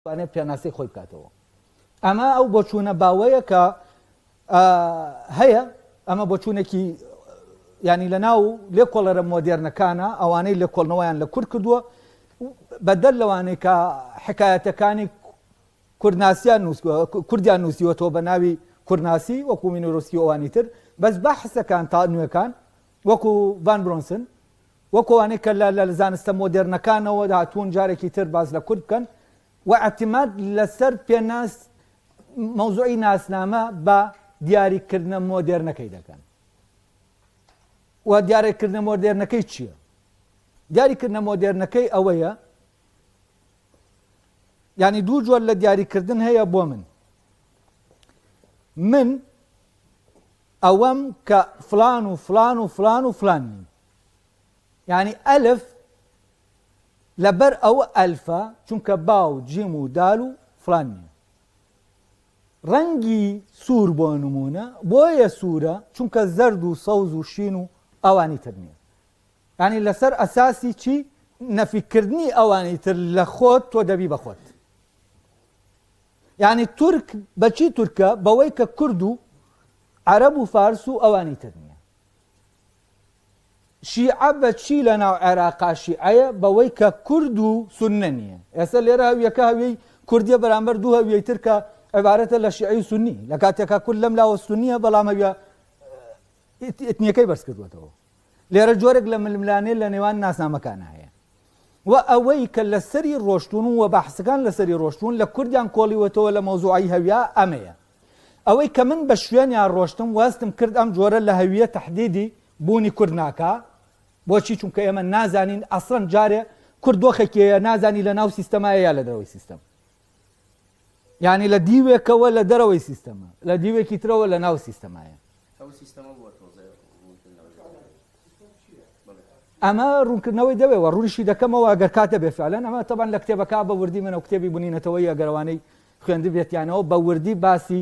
توانێت پێناسەی خۆی بکاتەوە ئەمە ئەو بۆچوونە باوەیە کە هەیە ئەمە بۆچوونێکی ینی لە ناو لێ کۆڵەرە مۆدێرنەکانە ئەوانەی لە کۆڵنەوەیان لە کورد کردووە بەدەر لەوانەیە کە حکایەتەکانی کوردناسیان کوردیان نووسیوەەوە بە ناوی کوردناسی وەکو مینۆرۆسکی ئەوانی تر بەس بە حسەکان تا نوێەکان وەکو ڤان برۆنسن وەک ئەوانەی کە لە لە زانستە مۆدێرنەکانەوە هاتوون جارێکی تر باس لە کورد بکەن و ئیعتیماد لەسەر پێناس مەوزوعی ناسنامە بە دیاریکردنە مۆدێرنەکەی دەکەن و دیارێکردنە مۆدێرنەکەی چییە دیاریکردنە مۆدێرنەکەی ئەوەیە ینی دوو جۆر لە دیاریکردن هەیە بۆ من من ئەوەم کە فلان و فلان و فلان و فلان نیم یانی ئەلف لەبەر ئەوە ئەلفە چونکە با و جیم و دال و فلان نیە ڕەنگی سوور بۆ نمونە بۆیە سوورە چونکە زەرد و سەوز و شین و ئەوانی تر نییە ینی لەسەر ئەساسی چی نەفیکردنی ئەوانی تر لە خۆت تۆ دەبی بەخۆت ینی تورک بەچی تورکە بەوەی کە کورد و عرب و فارس و ئەوانی تر نییە شیعە بە چی لە ناو عێراقا شیعەیە؟ بەوەی کە کورد و سوننە نییە. ئێستا لێرە هەویەکە هەویەی کوردییە بەرامبەر دوو هەویەی تر کە عیبارەتە لە شیعەی و سوننی. لە کاتێکا کورد لەم لاوە سوننییە بەڵام هەویە ئیتنییەکەی بەرز کردووەتەوە. لێرە جۆرێک لە ململانێ لە نێوان ناسنامەکانا هەیە. و ئەوەی کە لەسەری ڕۆشتون و بەحسەکان لەسەری ڕۆشتون لە کوردیان کۆڵیوەتەوە لە مەوزوعی هەویا ئەمەیە. ئەوەی کە من بە شوێنیان ڕۆشتم وەستم کرد ئەم جۆرە لە هەوییە تەحدیدی بوونی کورد ناکا بۆچی چونکە ئێمە نازانین ئەسڵەن جارێ کورد دۆخێکیەیە نازانی لە ناو سیستەمایە یا لە دەرەوەی سیستەم یعنی لە دیوێکەوە لە دەرەوەی سیستەمە لە دیوێکی ترەوە لە ناو سیستەمایە ئەمە ڕوونکردنەوەی دەوێەوە ڕونشی دەکەمەوە ئەگەر کاتە بێفعلەن ئەمە تەبان لە کتێبەکە بە وردی منە و کتێبی بنینەتەوەی ئەگەروانەی خوێندبێتیانەوە بە وردی باسی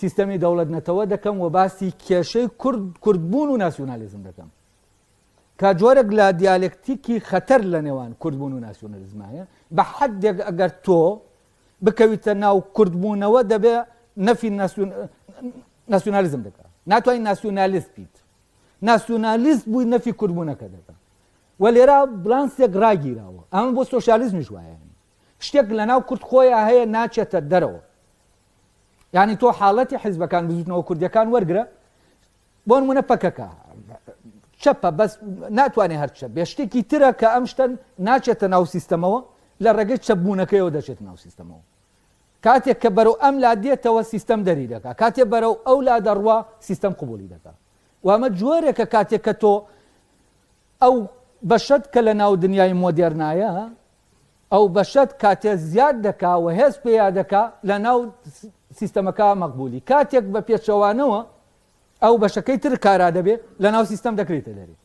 سیستەمی دەوڵەت نەتەوە دەکەم و باسی کێشەی کورد کوردبوون و ناسیۆنالیزم دەکەم کە جۆرێک لە دیالکتیکی خەتەر لە نێوان کوردبوون و ناسیۆنالیزم هەیە بە حدێک ئەگەر تۆ بکەویتە ناو کوردبوونەوە دەبێ نەفی ناسیۆنالیزم دەکات ناتوانین ناسیۆنالیست بیت ناسیۆنالیست بووی نەفی کوردبوونەکە دەکە و لێرا بلانسێک ڕاگیراوە ئەمە بۆ سۆسیالیزمیش وایە شتێک لەناو کورد خۆیا هەیە ناچێتە دەرەوە یانی تۆ حاڵەتی حیزبەکان بزوتنەوە کوردیەکان وەرگرە بۆ نمونە پەکەکە چەپە بەس ناتوانێت هەرچە بێ شتێکی ترە کە ئەم شتەن ناچێتە ناو سیستەمەوە لە ڕێگەی چەبوونەکەیەوە دەچێت ناو سیستەمەوە کاتێک کە بەرەو ئەم لا دێتەوە سیستەم دەری دەکا کاتێ بەرەو ئەو لا دەڕوا سیستەم قوبولی دەکا وامە جۆرێکە کاتێک کە تۆ ئەو بەشت کە لە ناو دنیای مۆدێرنایە ئەو بەشەت کاتێ زیاد دەکا و هێز پێیا دەکا لە ناو سیستەمەکە مەقبولی کاتێک بە پێچەوانەوە ئەو بەشەکەی تر کارا دەبێ لە ناو سیستەم دەکرێتە دەرێ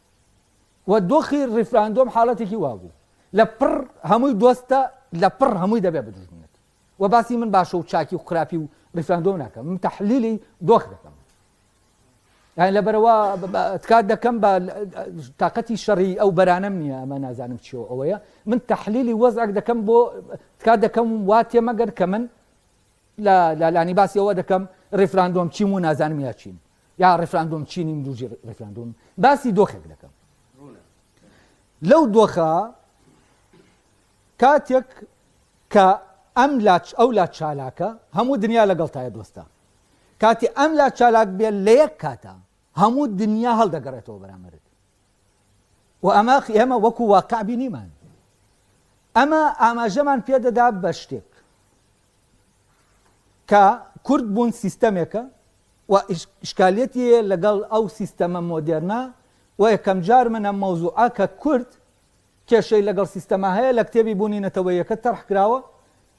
و دۆخی ڕیفراندۆم حاڵەتێکی وابوو لە پڕ هەمووی دۆستە لە پڕ هەمووی دەبێ بدژمنێت و باسی من باشە و چاکی و خراپی و ڕیفراندۆم ناکەم من تحلیلی دۆخ دەکەم یان لەبەرەوە تکات دەکەم بە تااقەتی شەڕی ئەو بەرانم نییە ئەمە نازانم چیەوە ئەوەیە من تحلیلی وەزعک دەکەم بۆ تکات دەکەم وا تێمەگەر کە من لە لالانی باسیەوە دەکەم ڕفراندۆم چیم و نازانم یا چیم یا ڕفراندۆم چینی دوژی ڕفراندۆم باسی دۆخێک دەکەم لەو دۆخە کاتێک کە ئەم لاچ ئەو لا چالاکە هەموو دنیا لەگەڵ تایە دۆستە کاتی ئەم لا چالاک بێت لە یەک کاتا هەموو دنیا هەڵدەگەڕێتەوە بەرامبەرت و ئەمە ئێمە وەکو واقع بینیمان ئەمە ئاماژەمان پێدەدا بە شتێک کە کورد بوون سیستەمێکە و شکالەتی لەگەڵ ئەو سیستەمە مۆدێرنا و یەکەم جار منە مەوزوعە کە کورد کێشەی لەگەڵ سیستەما هەیە لە کتێبی بوونی نەتەوەیەکە تەرح کراوە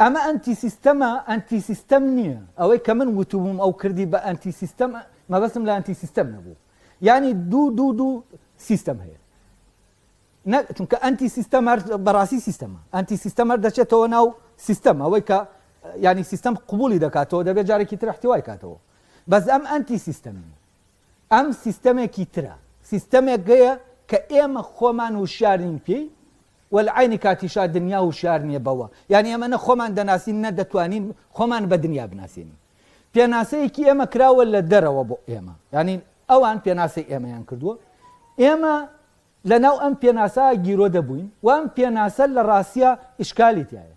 ئەمە ئەنتی سیستەمە ئەنتی سیستەم نییە ئەوەی کە من وتوبووم ئەو کردی بە ئەنتی سیستەم مەبەستم لە ئەنتی سیستەم نەبوو یعنی دوو دوو دوو سیستەم هەیە نە چونکە ئەنتی سیستەم هەر بەڕاستی سیستەمە ئەنتی سیستەم هەر دەچێتەوە ناو سیستەم ئەوەی کە ینی سیستەم قوبولی دەکاتەوە دەبێت جارێکی تر احتیوای کاتەوە بەس ئەم ئەنتی سیستەمی ئەم سیستەمێکی ترە، سیستەمێکگەیە کە ئێمە خۆمان وشیار نین پێی و لە عەینی کاتیشا دنیا وشیار نیە بەوە، یانی ئێمە نە خۆمان دەناسین نە دەتوانین خۆمان بە دنیا بناسێنین. پێناسەیەکی ئێمە کراوە لە دەرەوە بۆ ئێمە، یانی ئەوان پێناسەی ئێمەیان کردووە، ئێمە لەناو ئەم پێناسە گیرۆدە بووین و ئەم پێناسە لە ڕاستیا ئیشکالی تیایە،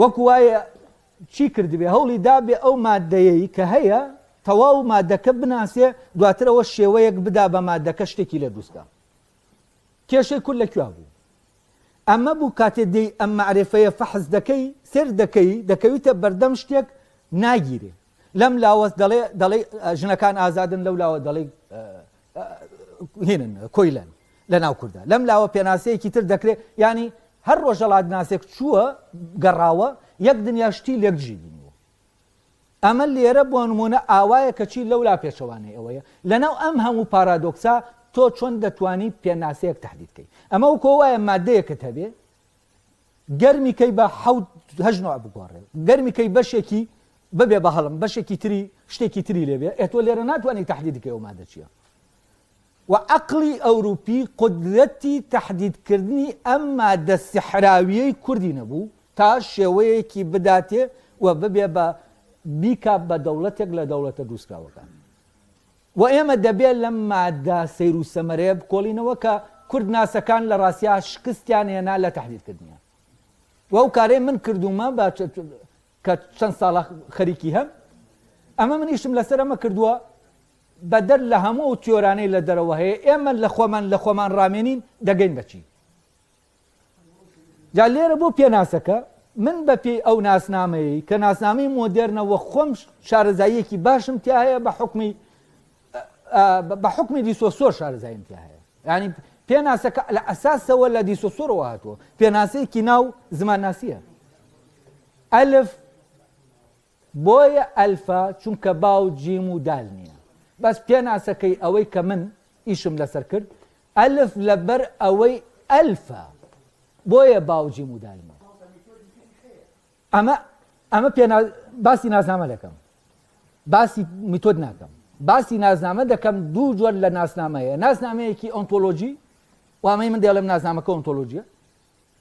وەکو وایە چی کردبێ هەوڵی دابێ ئەو ماددەیەی کە هەیە تەواو مادەکە بناسێ دواترەوە شێوەیەک بدا بە مادەکە شتێکی لە دروستکە کێشەی کورد لە کوێ بوو ئەمە بوو کاتێ دێی ئەم معرفەیە فەحز دەکەی سێر دەکەی دەکەویتە بەردەم شتێک ناگیرێ لەم لاوەست دەڵێ دەڵێ ژنەکان ئازادن لەو لاوە دەڵێ هینن کۆیلەن لە ناو کوردە لەم لاوە پێناسەیەکی تر دەکرێت ینی هەر ڕۆژەڵات ناسێک چووە گەڕاوە یەک دنیا شتی لێکدژی بینیوە ئەمە لێرە بۆ نمونە ئاوایە کەچی لەولا پێچەوانەی ئەوەیە لەناو ئەم هەموو پارادۆکسا تۆ چۆن دەتوانی پێناسەیەک تهدیدکەی ئەمە و کۆوایە مادەیەکت هەبێ گەرمی کەی بە حەوت هەژ نوع بگۆڕێ گەرمی کەی بەشێکی ببێ بە هەڵم بەشێکی تری شتێکی تری لێبێ ئەتۆ لێرە ناتوانانی تهدیدکە ئەو مادەچیە و عقلی ئەوروپی قدرەتی تهدیدکردنی ئەم مادە سحراویەی کوردی نەبوو تا شێوەیەکی بداتێ و ببێ بە بیکا بە دەوڵەتێک لە دەوڵەتە دووسکراوەکان وە ئێمە دەبێ لەم ماددە سەیر و سەمەرەیە بکۆڵینەوە کە کوردناسەکان لە ڕاستیا شکستیان هێنا لە تەحلیلکردنیان و ئەو کارەی من کردوومە بە کە چەند ساڵە خەریکی هەم ئەمە من ئیشم لەسەر ئەمە کردووە بەدەر لە هەموو ئەو تیۆرانەی لە دەرەوە هەیە ئێمە لە خۆمان لە خۆمان ڕامێنین دەگەین بەچی جا لێرە بۆ پێناسەکە من بە پێی ئەو ناسنامەیە کە ناسنامەی مۆدێرنە وە خۆم شارەزاییەکی باشم تیا هەیە بە حکمی بە حکمی دیسۆسۆر شارەزاییم تیا هەیە ینی پێناسەکە لە ئەساسەوە لە دیسۆسۆرەوە هاتووە پێناسەیەکی ناو زمانناسیە ئەلف بۆیە ئەلفە چونکە با و جیم و دال نیە بەس پێناسەکەی ئەوەی کە من ئیشم لەسەر کرد ئەلف لەبەر ئەوەی ئەلفە بۆیە با و جیم و دال نیە ئەمە ئەمە پێ باسی نازنامە دەکەم باسی میتۆد ناکەم باسی نازنامە دەکەم دوو جۆر لە ناسنامەیە ناسنامەیەکی ئۆنتۆلۆژی وامەی من دێڵم نازنامەکە ئۆنتۆلۆژیە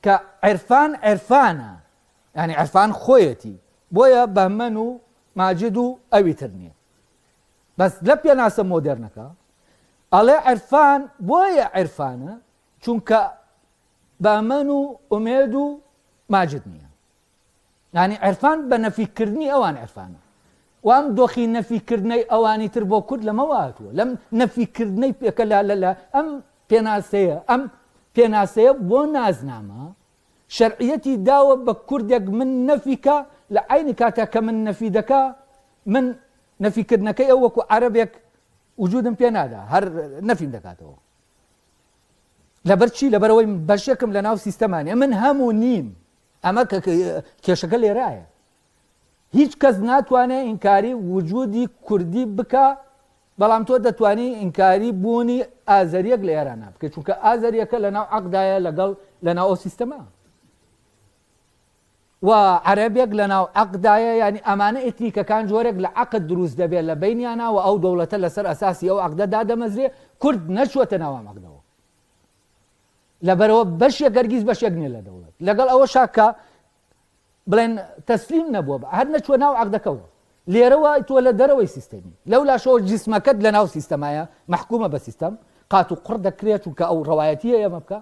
کە عرفان عرفانە یانی عرفان خۆیەتی بۆیە بەهمەن و ماجد و ئەوی تر نییە بەس لە پێناسە مۆدررنەکە ئەڵێ عرفان بۆیە عرفانە چونکە بەمەن و ئومێد و ماجد نییە ینی عرفان بە نەفیکردنی ئەوان عرفانە وام دۆخی نەفیکردنەی ئەوانی تر بۆ کورد لەمە واتوە لەم نەفیکردنەی پێکەلا لەلا ئەم پێناسەیە ئەم پێناسەیە بۆ نازنامە شەرعیەتی داوە بە کوردێک من نەفی کا لە عەینی کاتە کە من نەفی دەکا من نەفی کردنەکەی ئەو وەکو عەرەبێک وجودم پێ نادا هەر نەفیم دەکاتەوە لەبەر چی لەبەرەوەی بەشێکم لە ناو سیستەمانە من هەموو نیم ئەمە کێشەکە لێرایە هیچ کەس ناتوانێ ئینکاری وجودی کوردی بکا بەڵام تۆ دەتوانی ئینکاری بوونی ئازەریەک لە ئێرانا بکەیت چونکە ئازەریەکە لە ناو عقدایە لەگەڵ لە ناو ئەو سیستەما و عەرەبێک لە ناو عقدایە ینی ئەمانە ئتنیکەکان جۆرێک لە عقد دروست دەبێت لە بینیانە و ئەو دەوڵەتە لەسەر ئەساسی ئەو عقدە دادەمەزرێ کورد نەچوەتە ناوام عقدەوە لەبەرەوە بەشێک گەرگیز بەشێک نیە لە دەوڵەت لەگەڵ ئەوە شاکە بڵێن تەسلیم نەبووە بە هەر نەچووە ناو عەقدەکەوە لێرەوە تۆ لە دەرەوەی سیستەمی لەو لاشەوە جسمەکەت لە ناو سیستەمایە مححکومە بە سیستەم قات و قڕ دەکرێت و کە ئەو ڕەوایەتیە ئێمە بکە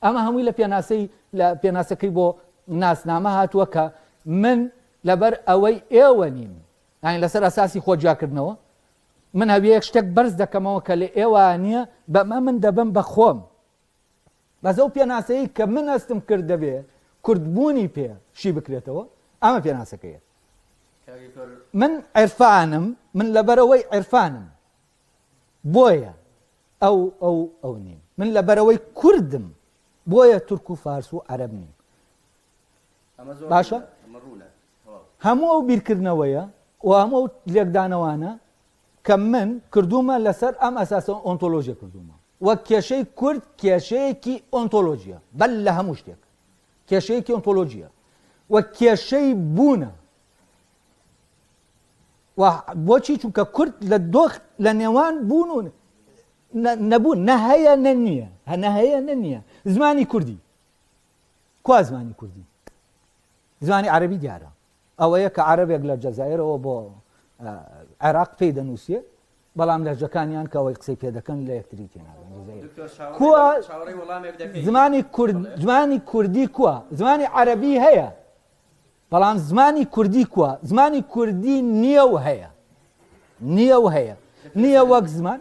ئەمە هەمووی لە پێناسەی لە پێناسەکەی بۆ ناسنامە هاتووە کە من لەبەر ئەوەی ئێوە نیم یانی لەسەر ئەساسی خۆ جیاکردنەوە من هەویەک شتێک بەرز دەکەمەوە کە لە ئێوە نییە بەمە من دەبم بە خۆم بەس ئەو پێناسەیەی کە من هەستم کرد دەبێ کورد بوونی پێ شی بکرێتەوە ئەمە پێناسەکەیە من عێرفانم من لەبەرەوەی عێرفانم بۆیە ئەو ئەو ئەو نیم من لە بەرەوەی کوردم بۆیە تورک و فارس و عەرب نیم باشە هەموو ئەو بیرکردنەوەیە و هەموو لێکدانەوانە کە من کردوومە لەسەر ئەم ئەساسە ئۆنتۆلۆژیە کردوومە و کێشەی کورد کێشەیەکی ئۆنتۆلۆژیە بەل لە هەموو شتێک کێشەیەکی ئۆنتۆلۆژیە و کێشەی بوونە و بۆچی چونکە کورد لە دۆخ لە نێوان بوون و نەبوون نە هەیە نە نییە هەنە هەیە نە نییە زمانی کوردی کوا زمانی کوردی زمانی عەرەبی دیارە ئەوەیە کە عەرەبێک لە جەزایرەوە بۆ عێراق پێی دەنووسێ بەڵام لەهجەکانیان کە ئەوەی قسەی پێدەکەن لە یەکتری زمانی زمانی کوردی کووە زمانی عەربی هەیە بەڵام زمانی کوردی کووە زمانی کوردی نییە و هەیە نییە و هەیە نییە وەک زمان